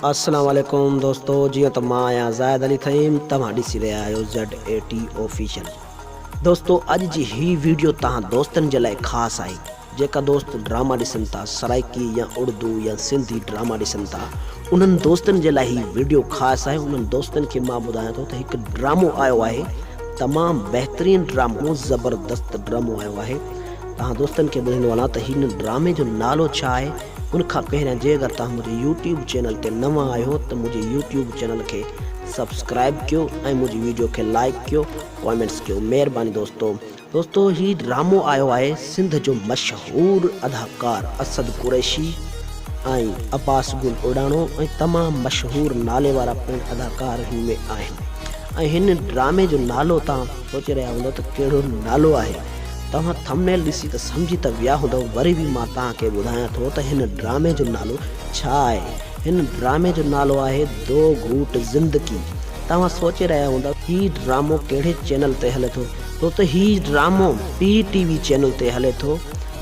السلام عليڪم دوستو جيئن ته مان آهيان زاهد علي فهيم توهان ڏسي رهيا آهيو زيڊ اي ٽي آفيشل دوستو اڄ جي هي ويڊيو توهان دوستن جي لاء خاص آهي جيڪا دوست ڊراما ڏسن ٿا سرائيڪي يا اڙدو يا سنڌي ڊراما ڏسن ٿا انهن دوستن جي لاء هي وڊيو خاص آهي انهن دوستن کي مان ٻڌايان ٿو ته هڪ ڊرامو آيو آهي تمام بهترين ڊرامو زبردست ڊرامو آيو آهي تهان دوستن کي ٻڌيندو هلان ته هن ڊرامي جو نالو ڇا آهي ان کان پهريان جي اگر تهان منهنجي يوٽيوب چينل تي نوان آهيو ته منهنجي يوٽيوب چينل کي سبسڪرائيب ڪيو ۽ منهنجي وڊيو کي لائڪ ڪيو ڪامينٽس ڪيو مهرباني دوستو. دوستو هي ڊرامو آيو آهي سنڌ جو مشهور اداڪار اسد قريشي ۽ عباس گل اوڏاڻو ۽ تمام مشهور نالي وارا پڻ اداڪار هن ۾ آهن ۽ هن ڊرامي جو نالو تان سوچي رهيا هوندو ته ڪهڙو نالو آهي توهان ٿمنيل ڏسي ته سمجهي ته ويا هوندو وري به مان تان کي ٻڌايان ٿو ته هن ڊرامي جو نالو ڇا آهي هن ڊرامي جو نالو آهي دو گهوٽ زندگي توهان سوچي رهيا هوندا هي ڊرامو ڪهڙي چينل تي هلي ٿو ڇو ته هي ڊرامو پي ٽي وي چينل تي هلي ٿو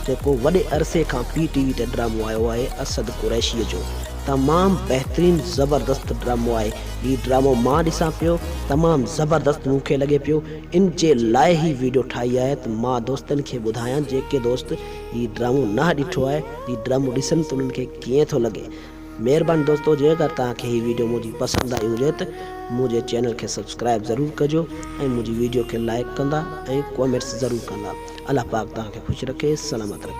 جيڪو وڏي عرصي کان پي ٽي وي تي ڊرامو آيو آهي اسد قريشيء جو تمام بهترين زبردست ڊرامو آهي هي ڊرامو مان ڏسان پيو تمام زبردست مون کي لڳي پيو ان جي لاء هي ويڊيو ٺاهي آهي ته مان دوستن کي ٻڌايان جيڪي دوست هي ڊرامو نه ڏٺو آهي هي ڊرامو ڏسن ته انهن کي ڪيئن ٿو لڳي مھرباني دوستو جي اگر توھان کي ھي ويڊيو منھنجي پسند آئي ھجي ته منھنجي چينل کي سبسڪرائب ضرور ڪجو ۽ منھنجي ويڊيو کي لائڪ ڪندا ۽ ڪومينٽس ضرور ڪندا الله پاڪ توھان کي خوش رکي سلامت رکي.